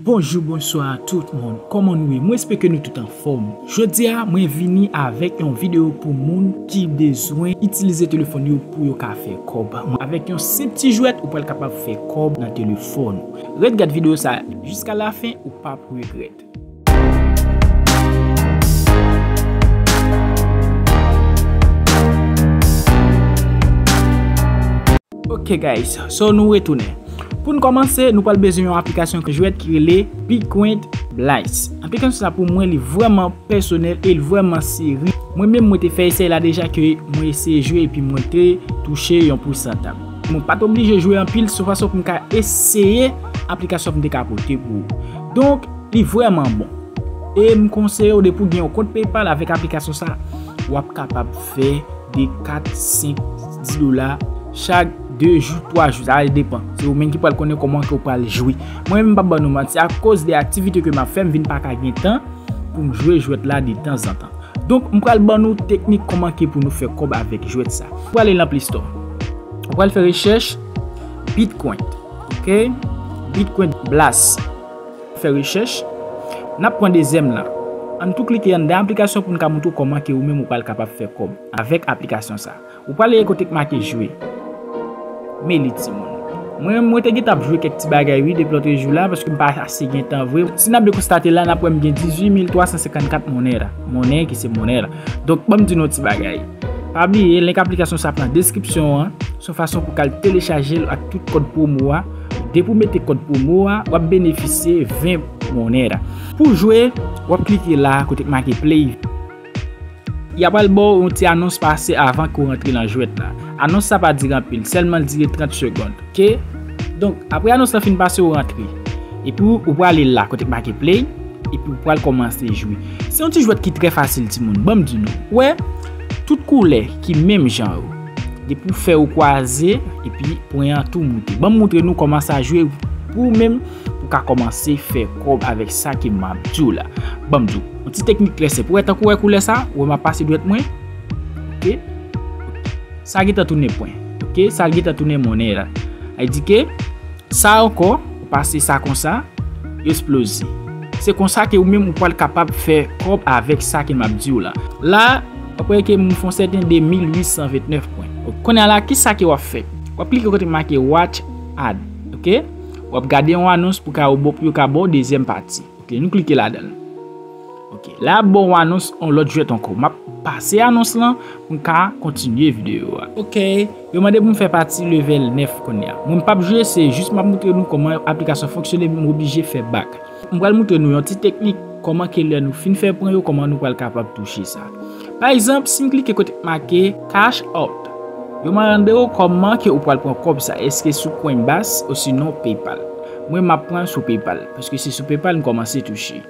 Bonjou bonswa a tout moun kòman nou ye mwen espeke nou tout anfòm jodia mwen vini avèk yon video pou moun ki bezwen itilize telefòn yo pou yo ka fè kòb avèk yon senp ti jwèt ou pral kapab fè kòb nan telefòn ou ret gad video sa jiska la fen ou pap regrèt. Ok guys, so nou retounen. Poun kòmanse, nou pral bezwen yon aplikasyon jwèt ki rele Piquant Blaze. Aplikasyon sa pou mwen li vrèman pèsonèl e li vrèman seri. Mwen menm mwen te fè esèy la deja ke mwen eseye jwe epi mwen te touche yon pousantaj. Mwen pat oblije jwe anpil sou fason poum ka eseye aplikasyon poum te ka pote pou ou. Donk li vrèman bon. E m konseyew depi ou gen yon kont PayPal avèk aplikasyon sa wap kapab. fè de 4, 5, 10 dola chak 2 jou, 3 jou. Sa depan. Se ou menm ki pral konnen kòman ke ou pral jwe. Mwen menm m pap ban nou manti a koz de aktivite ke m ap fè m vin pa ka gen tan pou m jwe jwèt la de tanzantan. Donk m pral ban nou teknik kòman ke pou nou fè kòb avèk jwèt sa. Ou pral ale nan play store. Ou pral fè rechèch Bitcoin. Ok. Bitcoin blast. Fè rechèch, Nap pran dezyèm lan. Ann tou klike anndan aplikasyon poun ka moutre w kòman ke ou menm ou pral kapab fè kòb avèk aplikasyon sa. Ou pral leye kote k make jwe. Me li timoun. Mwen menm mwen te gentan ap jwe kèk ti bagay wi depi lotre jou la paske m pa ase gen tan vre. Si nap byen konstate la nap wè m gen 18354 monera, monnen ki se monera. Donk banm di nou yon ti bagay. Pa bliye link aplikasyon sa ap nan deskripsyon an. Son fason pou ka al telechajel ak tout kòd promo a. Depi w mete kòd pwomo a, w ap benefisye 20 moner. Pou w jwe, w ap klike la kote ki make play. Y ap al ba w yon ti anons pase avan ke w rantre nan jwèt la. Anons sa pa dire anpil, sèlman l dire 30 segond. Ok. Donk, apre anons la fin pase ou rantre. Epi ou prale la kote ki make play, epi ou pral kòmanse jwe. Se yon ti jwèt ki trè fasil timoun. Ban m di nou. Ou wè, tout koulè ki menm jan yo. Depi w fè ou kwaze epi pwen an tou moute. Banm moutre nou kòman sa jwe pou ou menm ou ka kòmanse fè kòb avèk sa ke map di w la. Banm di w. Yon ti teknik trè senp. Ou wè tankou ou wè koulè sa? Ou wè map pase dwèt mwen? Ok. Sa gentan tounen pwen. Ok. Sa gentan tounen monnen la. Ay di ke sa ankò ou pase sa konsa yo esploze. Se konsa ke ou menm ou pwal kapab fè kòb avèk sa ke map di w la. La. Apre ke m fon sèten de 1829 pwen. Ok. Kounye a la, ki sa ke w ap fè? W ap klike kote make Watch Ad. Ok. W ap gade yon anons pou ka pou yo ka ba w dezyèm pati. Ok. Nou klike ladan l. Ok. La y ap ba w anons yon lòt jwèt ankò. M ap pase anons lan pou m ka kontinye videyo a. Ok. Yo mande pou m fè pati level 9 kounye a. Mwen m p ap jwe, se jis m ap montre nou kòman aplikasyon fonksyone men m oblije fè bak. M pral moutre nou yon ti teknik kòman ke lè nou fin fè pwen yo kòman nou pral kapab touche sa. Pa egzanp si m klike kote k make cash out yo ma rande ou kòman ke ou pral pran kòb sa eske sou coinbase osinon paypal. Mwen map pran sou paypal paske se sou paypal m kòmanse touche.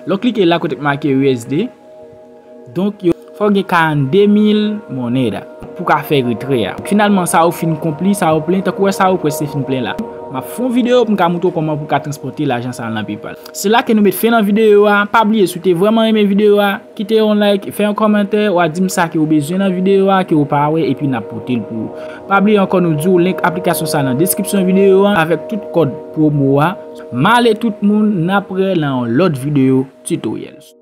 Lè w klike la kote k make usd. Donk yo. Fò w gen 42 mil moneda. Pou w ka fè retrè a. Finalman sa ou fin konpli, sa ou plen, tankou wè sa ou prèske fin plen la. M ap fè yon videyo pou m ka montre w kòman pou w ka transpòte lajan sa a nan PayPal. Se la ke nou met fen nan videyo a. Pa bliye si w te vrèman renmen videyo a, kite yon like, fè yon kòmantè, w a di m sa ke ou bezwen nan videyo a, ke ou pa wè, epi n ap pote l pou ou. Pa bliye ankò nou di w link aplikasyon sa a nan deskripsyon videyo a avèk tout kòd pwomo a. Male tout moun, n ap re nan yon lòt videyo tutorials.